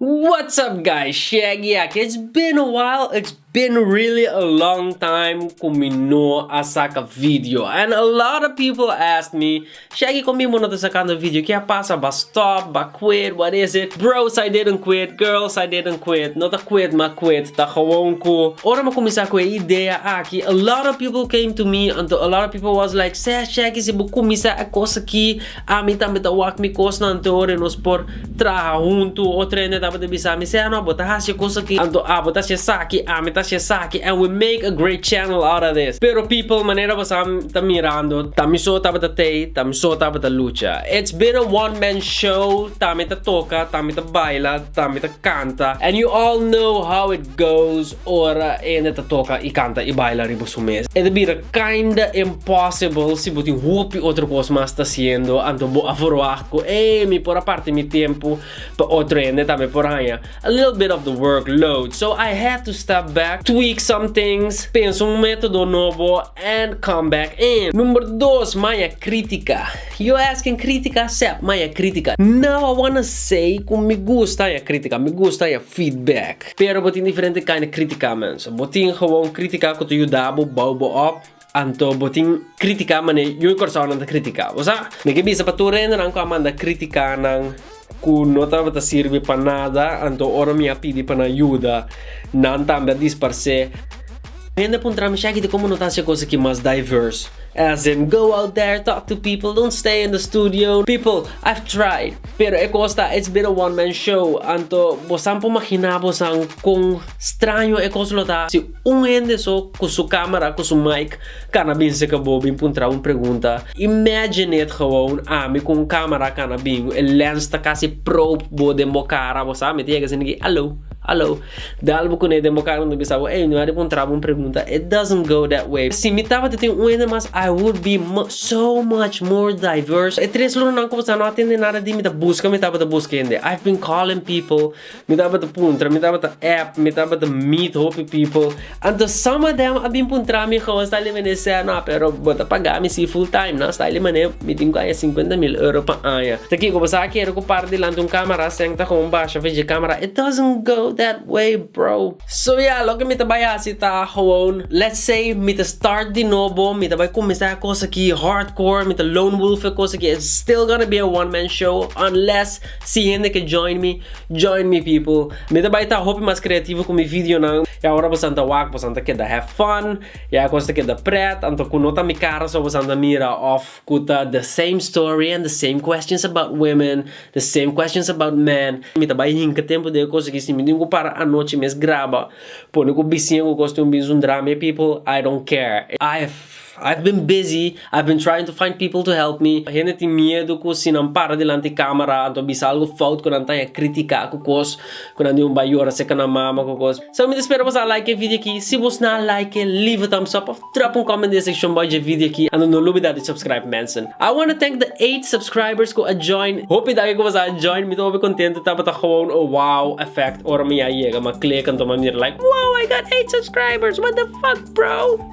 What's up guys Shaggy aki it's been a while it's been really a long time cu mi no a saca video and a lot of people ask me Shaggy con bimbo no ta sacando video ke a pasa bo a stop bo a quit what is it bros I didn't quit girls I didn't quit no ta quit ma quit ta gewoon cu ora mi a cuminsa cu e idea aki a lot of people came to me anto a lot of people was like seh Shaggy si bo cuminsa e cos aki Ami tambe ta wak mi kosnan anto ora nos por traha huntu o Trende tabata bisa mi Seno abo ta hasi e kos aki anto abo ta hasi esaki ami ta hasi esaki and we make a great channel out of this pero people manera bosabi ta mirando ta mi so tabata tei ta mi so tabata lucha it's been a one man show ta mi ta toka ta mi ta baila ta mi ta kanta and you all know how it goes. Ora e hende ta toka y canta y baila riba su mesa e ta bira kinda impossible si bo tin hopi otro cos mas ta haciendo anto bo a verwagt cu ey mi por a parti mi tempo pa otro hende tambe por haya a little bit of the work load so I had to step back tweak some things pensa un metodo nobo and come back in. Number dos maya critica yo asking critica sep maya critica now I wanna say cu mi gusta haya critica mi gusta haya feedback Pero bo tin diferente kind di critica mens. Bo tin gewoon critica cu ta yuda bo bou bo op, anto bo tin critica mane yu y Curaçaonan ta critica. Bo sa? Mi ke bisa pa tur rendenan cu a manda critica nan cu no tabata sirbi pa nada, anto ora mi a pidi pa nan yuda, nan tambe a disparse. Hende a puntra mi, Shaggy, di como no ta haci e cosa aki mas diverse? As in, go out there, talk to people, don't stay in the studio. People, I've tried, pero e cos ta, it's been a one man show, anto bosan por magina bosan con straño e cos lo ta si un hende so cu su camera, cu su mic cana bin cerca bo, bin puntra un pregunta. Imagine it gewoon, ami cu un camera cana bin, e lens ta casi probe bo den bo cara, bo sa meti ey casi niki, hallo, hallo. Dal bo kuné den bo kara anto bisa bo ey no a repuntra bo un pregunta it doesn't go that way si mi tabata tin un hende mas I would be so much more diverse e tres lonanan ku bo sa no a tende nada di mi ta buska mi tabata buska hende I've been calling people mi tabata puntra mi tabata app mi tabata meet hopi people Anto some of them a bin puntra mi how sta li menester no pero bo ta paga mi si full time no sta li mane mi tin ku haya sinkuenta mil euro pa aña ta kiko bo sa kere ku para dilanti un camera seng ta gewoon basha fi dje camera it doesn't go that way bro. So ya loke mi ta bai hasi ta gewoon let's say mi ta start di nobo mi ta bai cuminsa e cos aki hardcore mi ta lone wolf e cos aki it's still gonna be a one man show unless Si hende ke join mi, join mi people. Mi ta bai ta hopi mas creativo cu mi videonan. Ya ora bosan ta wak, bosan ta keda have fun. Ya e cos ta keda pret. Anto cu no ta mi cara so bosan ta mira of cu ta the same story and the same questions about women, the same questions about men. Mi ta bai hinca tempo den e cos aki. Si mi tin cu para anochi mes graba, pone cu biciña cu cos tin un bin zundra mi people, I don't care. I have I've been busy, I've been trying to find people to help me. Hende tin miedu cu si nan para dilanti camera anto a bisa algo fout cu nan ta haña critica cu cos cu nan di un bay yora seca nan mama cu cos. Solo mi ta spera boso a like e video aki. Si boso na like, leave a thumbs up of drop un comment den e seccion bay dje video aki. Anto no lubida di subscribe mensen. I wanna thank the eight subscribers cu a join. Hopi dagi cu boso a join. Mi ta hopi contento tabata gewoon a wow effect ora mi a yega mi a click anto mi a mira like wow I got eight subscribers what the fuck bro.